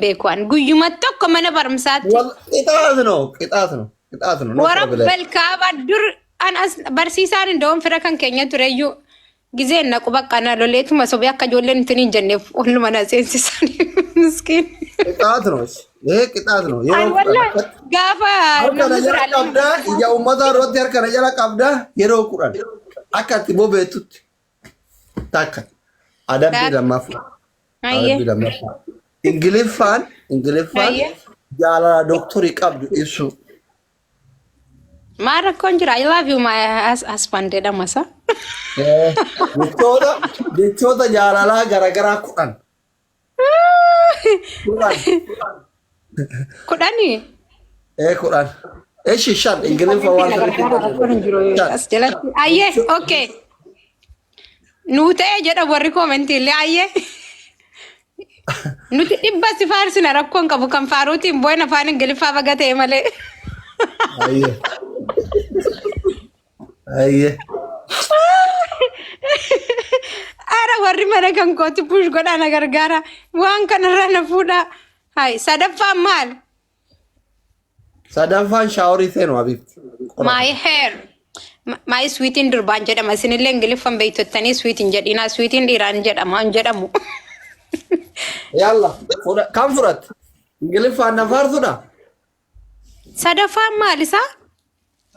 beekuan guyyuma tokko mana barumsaatti Wal qixaatu no qixaatu no qixaatu no no warra problem. balkaaba dur an as barsiisaan indoon fira kan keenya tureyyuu gizeen naqu bakka na loleetuma sobee akka ijoolleen ittiin hin jenneef hunduma na seensisan miskiin. Qixaatu no ee qixaatu no Ay yeroo wallah gaafa harka na namni jala qabdaa ija uummataa duratti harka na jala qabdaa yeroo kudhan akka itti bobeettutti. Takka. Adabbii Taakka. lammaffaa. Hayyee. Adabbii lammaffaa. Ingiliffaan Ingiliffaan Hayyee. jaalala dooktorii qabdu ibsuu. Maal rakkoon jira? I love you my hus- husband jedhama sa. Jechoota jechoota jaalalaa garaagaraa kudhan. Kudhan. Kudhani. Ee kudhan. Eshi shan ingiliffa waan sanitti barreeffame. As jalatti. Ayyee okay. Nuu ta'ee jedha warri koomentii illee ayyee. Nuti dhibba si faarsina rakkoon qabu kan faaruutiin boo'in afaan ingiliffaa baga ta'e malee. Ayyee. Ayyee. Ara warri mana kan kooti push godhaa na gargaara. Waan kanarraa na fuudhaa. Hai sadaffaan maal? Sadaffaan shaaworii seenu habiibti. My hair. Ma- My sweetin durbaan jedhama. Isinillee ingiliffan beektottanii sweetin jedhinaa. Sweetin dhiiraan jedhama hin jedhamu. Yalla. Kan fudhatte. Ingiliffaan na faarsudha. Sadaffaan maal isaa?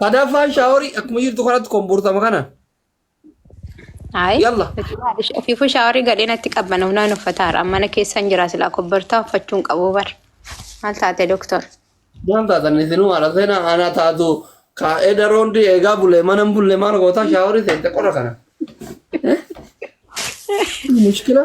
Sadaffaan shaaworii akkuma jirtu kanatti komboortama kana. Ayi. Yalla. Ofiifuu shaaworii gadhee natti qabbana hunaan uffataara. Mana keessan jira silaa kobbortaa uffachuun qabu bar. Maal taate doktor? Waan taatan isinuu haala seenaa aanaa taatu kaa'ee daroon di eegaa bulee mana hin bulle maal gootaa shaaworii seente qora kana. Mushkila.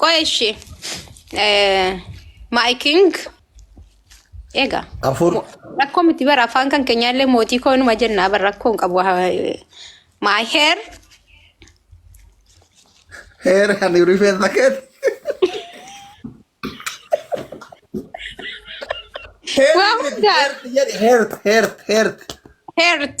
Qoy ishi. My king. Egaa. Afur. Rakkoo miti bara afaan kan keenyaallee mootii koo numa jennaa bara rakkoo hin qabu. My hair. Heera kan rifeensa keessa. Waa hundaa. Heert, heert, heert. Heart.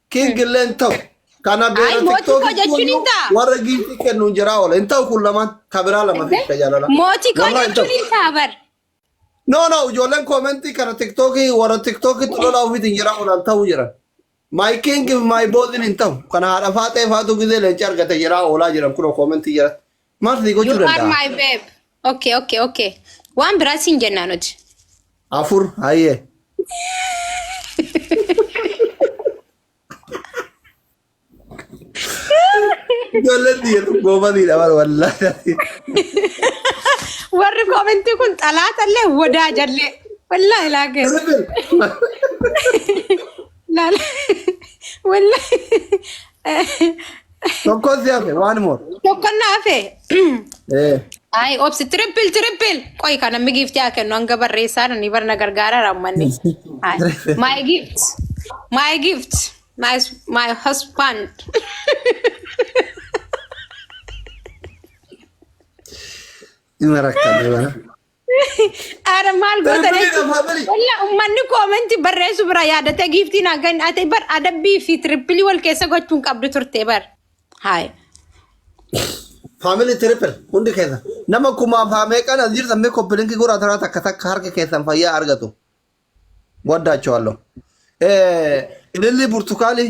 King illee hin ta'u. Kana Ay, beera mootii TikTok koo jechuun hin ta'a. warra giiftii kennu hin jiraa oola. Hin ta'u kun lamaan kabiraa lama fi itti jaalala. Mootii koo Wallahi hin ta'u. jechuun hin ta'a bar. No no ijoolleen koomentii kana tiktookii warra tiktookitti lolaa ofiitiin jira oolan ta'uu jiran. My king my boozin hin ta'u. Kana haadha faaxee faatu gizee leenci argate jira oolaa jiran kunoo koomentii jira. Maaf sii gochuu You are danda'a? my babe. Okay, okay, okay. Waan biraa siin jennaa nuti. Afur hayyee. Ijoolleen biyya goobaniidha bara wallaahi. Warri koomentii kun xalaatallee wadaa jallee. Wallaahi laagee. Laala. Wallaahi. Tokkos si hafe one more. Tokkon na hafe. Eh. Ay, obsi triple triple. Qoy kana mi gift yaa kennu hanga barreessaa nani barna gargaara rammanni. Ay, my gift. My gift. My my husband. Ima rakkanne bana. Ara maal goota Darbanii jechuun dhaaf haa bari. walla ummanni koomentii barreessu bira yaadatee giiftii naa kan ate bar adabbii fi tirippilii wal keessa gochuun qabdu turte bar. Haay. Faamilii tiripil hundi keessa. Nama kumaaf haa meeqan as jirtan mee koppilinkii goraa taraa takka takka harka keessan fayyaa argatu. Waddaachoo halloo. Ilillii burtukaanii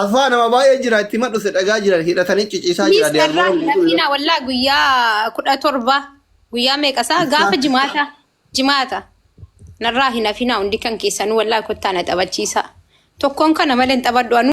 Afaa nama baay'ee jira itti madhu se dhagaa jiran hidhatanii ciciisaa Please jira dear narraan Morgan. lafiina wallaa guyyaa kudha torba guyyaa meeqa isaa gaafa jimaata jimaata narraa hin hafinaa hundi kan keessanuu wallaa kottaa na taphachiisaa tokkoon kana malee hin taphadhu anuu